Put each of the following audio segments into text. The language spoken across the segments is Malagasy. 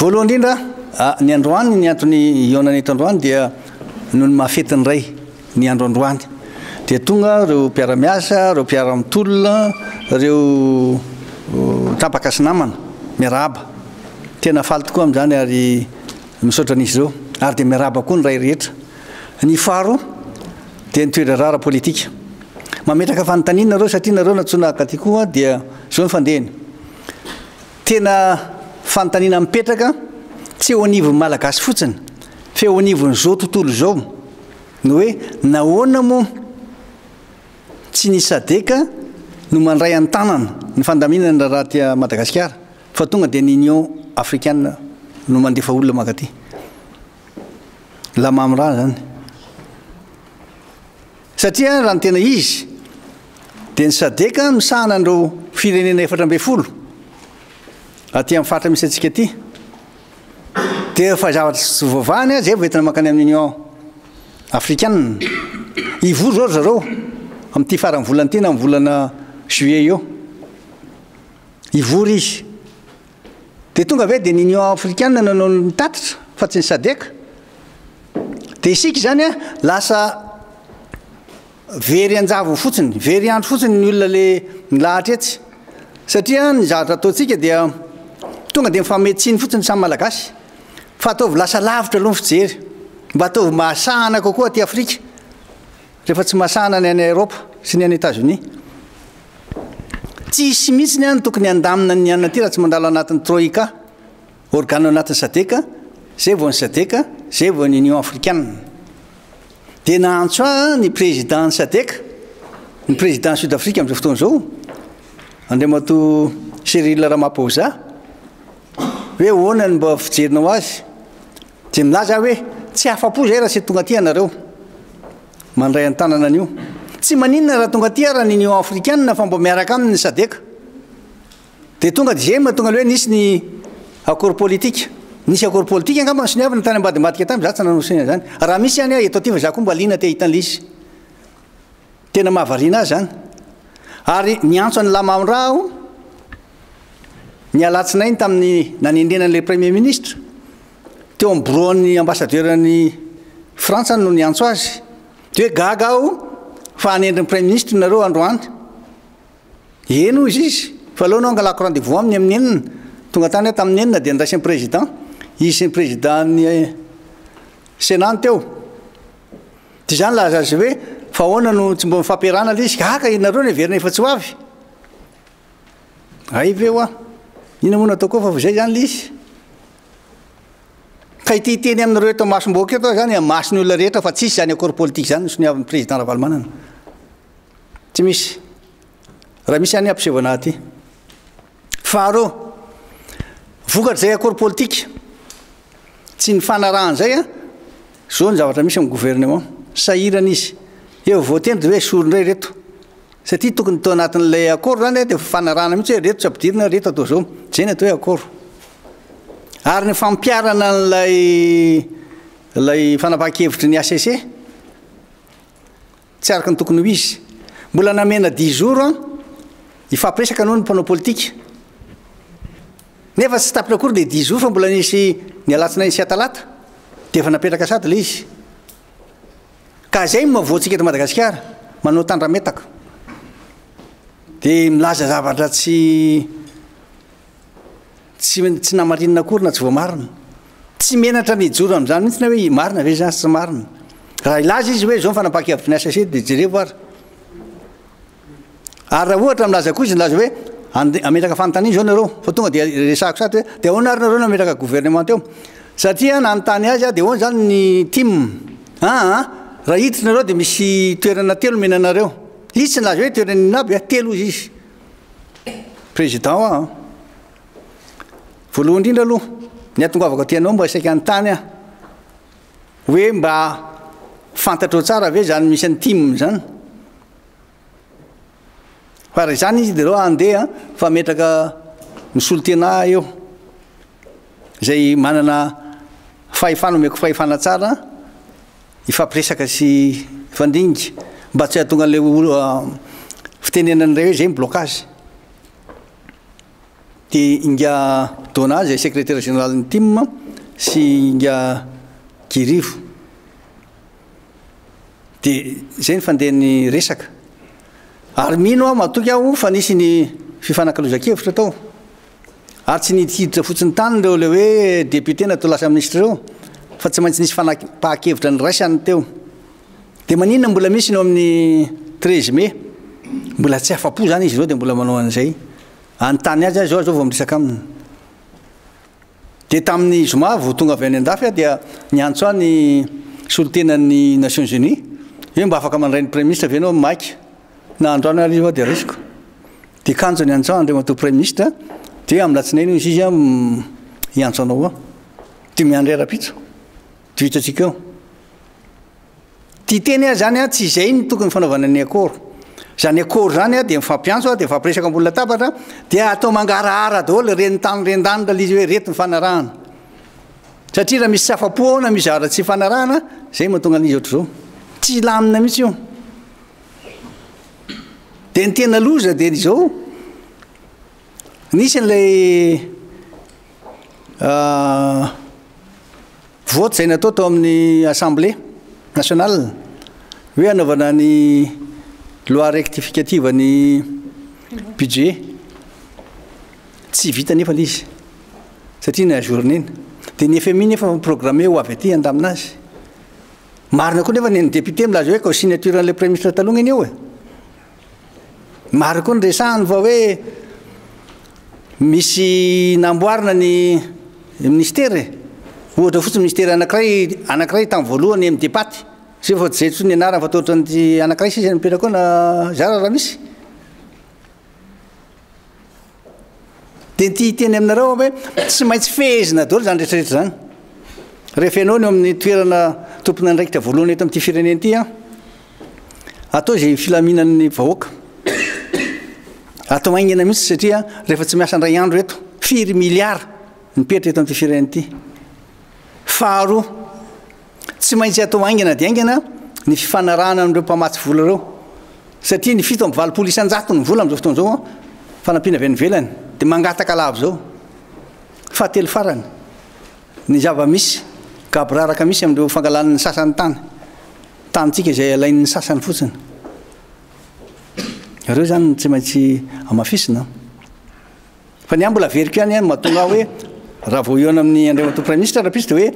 Voalohany indrindra, ny androany, ny antony hihaonana eto androany dia noho ny maha fetin'ny Ray ny andro androany. Dia tonga ireo mpiara-miasa, ireo mpiara-mitolona, ireo tapaka sy namana miarahaba. Tena faly tokoa amin'izany ary misaotra an'izy ireo. Ary dia miarahaba koa ny Ray rehetra. Ny faharoa dia ny toe-draharaha ara-politika. Mametraka fanontaniana nareo satria nareo nantsoina haka aty koa dia izao ny fandehany. Tena fanontaniana mipetraka, tsy eo anivon'ny Malagasy fotsiny, fa eo anivon'izao tontolo izao, ny hoe nahoana moa tsy ny Sadc no mandray an-tanana ny fandaminana ny raharaha aty Madagasikara, fa tonga dia ny Union africaine no mandefa olona mankaty. La Mamra izany. Satria raha ny tena izy dia ny sadc no misahana an'ireo firenena efatra ambin'ny folo aty amin'ny faritra misy antsika ity. Dia efa zavatra tsy voavahany aza efa entina mankany amin'ny Union afrikanina. Hivory izao ry zareo amin'ity faran'ny volana ity na amin'ny volana juillet eo. Hivory izy. Dia tonga ve dia ny Union Afrikana no nanao ny tatitra fa tsy ny Sadec? Dia isika izany an, lasa very an-java fotsiny, very andro fotsiny ny olona ilay nilahatra etsy. Satria ny zavatra ataontsika dia tonga dia mifamehy tsiny fotsiny ny samy Malagasy. Fa ataovy lasa lavitra aloha ny fijery, mba ataovy mahasahana kokoa aty Afrika. Rehefa tsy masahana ny any Eropa sy ny any Etazonia, tsy hisy mihitsy ny any tokony handamina ny an'aty raha tsy mandalo anatin'ny Troika, organo ao anatin'ny Sadc, zay vao ny Sadc, zay vao ny Union Afrikanina. Dia naantso ahy ny Président ny Sadc, ny Président ny Sud-Afrique amin'izao fotoana izao, Andriamatoa Cyril Ramaphosa, hoe ahoana ny mba fijerinao azy? Dia nilaza aho hoe, Tsy afa-po izay raha tsy tonga aty ianareo mandray an-tanana an'io. Tsy maninona raha tonga aty ara ny Union africaine fa mba miaraka aminy ny Sadec. Dia tonga dia izay no mahatonga ilay hoe nisy ny accord politique. Nisy accord politique angamba nisoniavina tany ambadimbadika tany, izaho tsy nanao signe izany. Raha misy ihany aho eto aty fa izaho koa mba liana te hahita an'ilay izy. Tena mahavariana ahy izany. Ary niantso an'i Lamaondraha aho ny alatsinainy tamin'ny nanendrena an'ilay Premier Ministre. Teo amin'ny biraon'ny Ambassadeur-n'i Frantsa no niantso azy. Dia hoe gaga aho fa hanendry ny Premier Ministre nareo androany. Eny hoy izy, fa aleo anao angalako rendez-vous aminy amin'ny enina. Tonga tany aho tamin'ny enina dia niraisin'ny Président. Izy sy ny Président-n'ny Sénat no teo. Dia izany laza azy hoe, fa ahoana no tsy mbola mifampiarahana ilay izy? Gaga ianareo no heverina efa tsy ho avy. Hay ve hoa, inona moa no ataoko eo fa vao izay izany ilay izy? Ka ity hiteny aminareo eto masom-bahoaka eto aho izany hamasin'ny olona rehetra fa tsisy izany accord politique izany no soniavin'ny président Ravalomanana. Tsy misy. Raha misy any hampiseho anah aty. Faharoa, vokatr'izay accord politique, tsy nifanarahan'izay an, izao ny zavatra misy amin'ny gouvernement, sahirana izy. Eo vao voateny dia hoe esory indray ireto. Satria tokony tao anatin'ilay accord izany an, dia fifanarahana mihitsy hoe ireto tsy ampidirina, ireto atao izao. Izay ny atao hoe accord. Ary ny fampiharana an'ilay ilay fanapahan-kevitry ny HCC, Tsy araka ny tokony ho izy. Mbola namena dix jours an, hifampiresaka aloha ny mpanao politika. Nefa tsy tapitra akory ilay dix jours fa mbola nisy ny alatsinainy sy atalata dia efa napetraka sady ilay izy. Ka izay no mavoantsika eto Madagasikara, manao tandrametaka. Dia milaza zavatra tsy Tsy tsy namarinina akory na tsy voamarina. Tsy menatra ny hijoro amin'izany mihitsy na hoe marina ve izany sy tsy marina. Raha hilaza izy hoe izao ny fanapahan-kevitry ny HCC dia jereko ary. Ary raha ohatra milaza koa izy milaza hoe ande- hametraka fanontaniana izao nareo fa tonga dia resahako sahady hoe dia ahoana ary nareo no hametraka gouvernement eo. Satria nanontany azy aho dia ahoana izany ny tim. Aa raha hiditra nareo dia misy toerana telo omena anareo. Izy tsy nilaza hoe toerana inona aby a, telo hoy izy. Président an! Voalohany indrindra aloha, ny hahatongavako aty anao mba saika hanontany aho, hoe mba fantatrao tsara ve izany misy an'i Tim izany? Fa raha izany izy dia aleo handeha fa metraka misolo tena ahy eo, izay manana fahefana omeko fahefana tsara, hifampiresaka sy hifandinga mba tsy hahatonga an'ilay fitenenana indray hoe izay ny blocage. Dia Inga Dona izay sekretera jeneralin'ny tim sy Inga Girivo. Dia izay ny fandehan'ny resaka. Ary mino aho, matoky aho fa nisy ny fifanakalozan-kevitra tao. ary tsy niditra fotsiny tany ireo ilay hoe député na toa lasa ministra ireo fa tsy maintsy nisy fanapahan-kevitra niraisany teo. Dia maninona mbola misy ny ao amin'ny 13 mai? Mbola tsy afa-po izany izy ireo dia mbola manao an'izay. Anontany azy aho izao, izao vao miresaka aminy. Dia tamin'ny zoma vao tonga avy any an-dafy aho dia niantso ahy ny solontenan'ny Nations Unies hoe mba afaka mandray ny Praiminisitra ve ianao maika. Na androany ary io dia raisiko. Dia kanjo ny anjao Andriamatoa Praiminisitra dia amin'ny latsinainy hoy izy hiantso anao ao. Dia miandry rahampitso. Dia hitantsika eo. Ity teny aho zany tsy izay no tokony fanaovana ny akoro. Izany akoro izany dia mifampiantso dia mifampiresaka ambony latabatra dia atao mangarahara daholo reny tany reny tany raha ilay izy hoe reto ny fanarahana. Satria raha misy tsy afa-po ao na misy zavatra tsy ifanarahana izay mahatonga an'izy ohatr'izao. Tsy hilamina mihitsy io. Dia ny tena loza dia izao, nisy an'ilay vote izay natao tao amin'ny assemblée nationale hoe hanaovana ny loi rectificative ny budget. Tsy vita nefa ilay izy satria ny ajourner-na. Dia ny FMI nefa programmer ho avy aty handamina azy. Marina koa nefa ny an'ny député milaza hoe ko signature an'ilay premier ministre taloha ngeny io e. Marina koa ny resahany fa hoe misy namboarina ny ministera e. Ohatra fotsiny ministera anankiray anankiray tamin'ny voalohany amin'ny depaty. Zay fa tsy zay ny anarany fa toa ohatran'ny anankiray sisa nipetraka ao na zara raha misy. Dia ity hiteny aminareo aho hoe tsy maintsy fehezina daholo izany rehetrarehetra izany. Rehefa ianao no amin'ny toerana tompon'andraikitra voalohany eto amin'ity firenena ity, atao izay filaminan'ny vahoaka. Atao haingana mihitsy satria rehefa tsy miasa indray andro eto, firy miliara mipetra eto amin'ity firenena ity. Faharoa, Tsy maintsy atao haingana dia haingana ny fifanarahana amin'ireo mpamatsy vola ireo, satria ny fito amby valopolo isan-jato ny vola amin'izao fotoana izao an, fanampiana avy any ivelany, dia mangataka lava izao. Fahatelo farany, ny zava-misy gaboraraka misy amin'ireo fangalana ny sasany tany, tanintsika izay alain'ny sasany fotsiny. Ireo izany no tsy maintsy hamafisina. Fa ny ahy mbola averiko ihany an, mahatonga ahy hoe raha vao eo amin'ny Andriamatoa Praiminisitra rahampitso dia hoe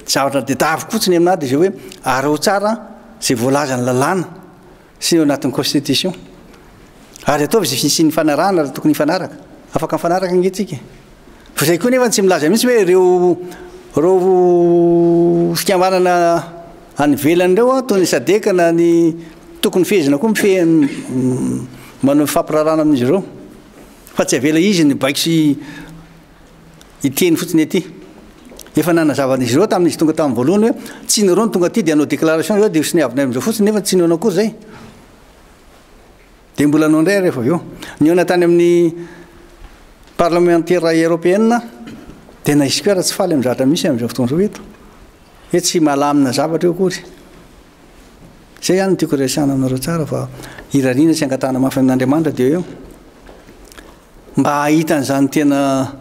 zavatra dedaviko fotsiny aminahy dia izay hoe araho tsara izay voalazan'ny lalàna sy eo anatin'ny Constitution. Ary ataovy izay fisian'ny fanarahana raha tokony hifanaraka. Afaka mifanaraka ange tsika e. Fa izay koa nefa tsy milaza mihitsy hoe ireo ireo fikambanana any ivelany ireo an, toy ny sadeka na ny tokony fehezina koa mifehy manao fampirarana amin'izy ireo. Fa tsy avela izy ny baiko sy hiteny fotsiny aty. Efa nanazava an'izy ireo tamin'izy tonga tamin'ny voalohany hoe tsy nareo no tonga aty dia hanao déclaration nareo dia ho soniavinay amin'izao fotsiny nefa tsy nihaona akory izay. Dia mbola hanao indray ary rehefa avy eo. Nihaona tany amin'ny parlemantera eropeana dia na isika ary tsy faly amin'ny zavatra misy amin'izao fotoana izao eto. Hoe tsy mahalamina zavatra eo akory. Izay ihany no tiako resahana aminareo tsara fa irariana sy angatahana mafy amin'Andriamanitra dia hoe mba hahita an'izany tena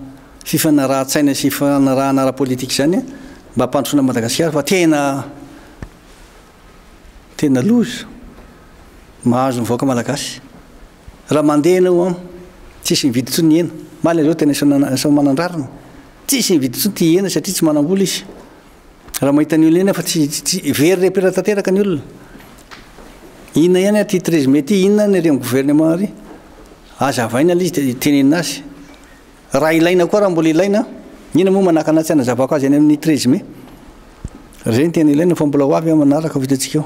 fifanarahan-tsaina sy fifanarahana ara-politika izany mba hampandrosoana an'i Madagasikara fa tena tena loza mahazo ny vahoaka malagasy. Raha mandeha ianao an, tsisy mividy intsony ny hena. Malazao tena efa manan-drariny. Tsisy mividy intsony tia hena satria tsy manam-bola izy. Raha mahita ny olona eny fa tsy tsy very repera tanteraka ny olona. Inona ihany aty treize mai ty inona ny reny gouvernement ary aza avaina le izy de tenenina azy. Raha ilaina koa raha mbola ilaina inona moa manakana tsy hanazavako azy any amin'ny treize mai. Zay ny tena ilaina fa mbola ho avy aho manaraka vao hitantsika eo.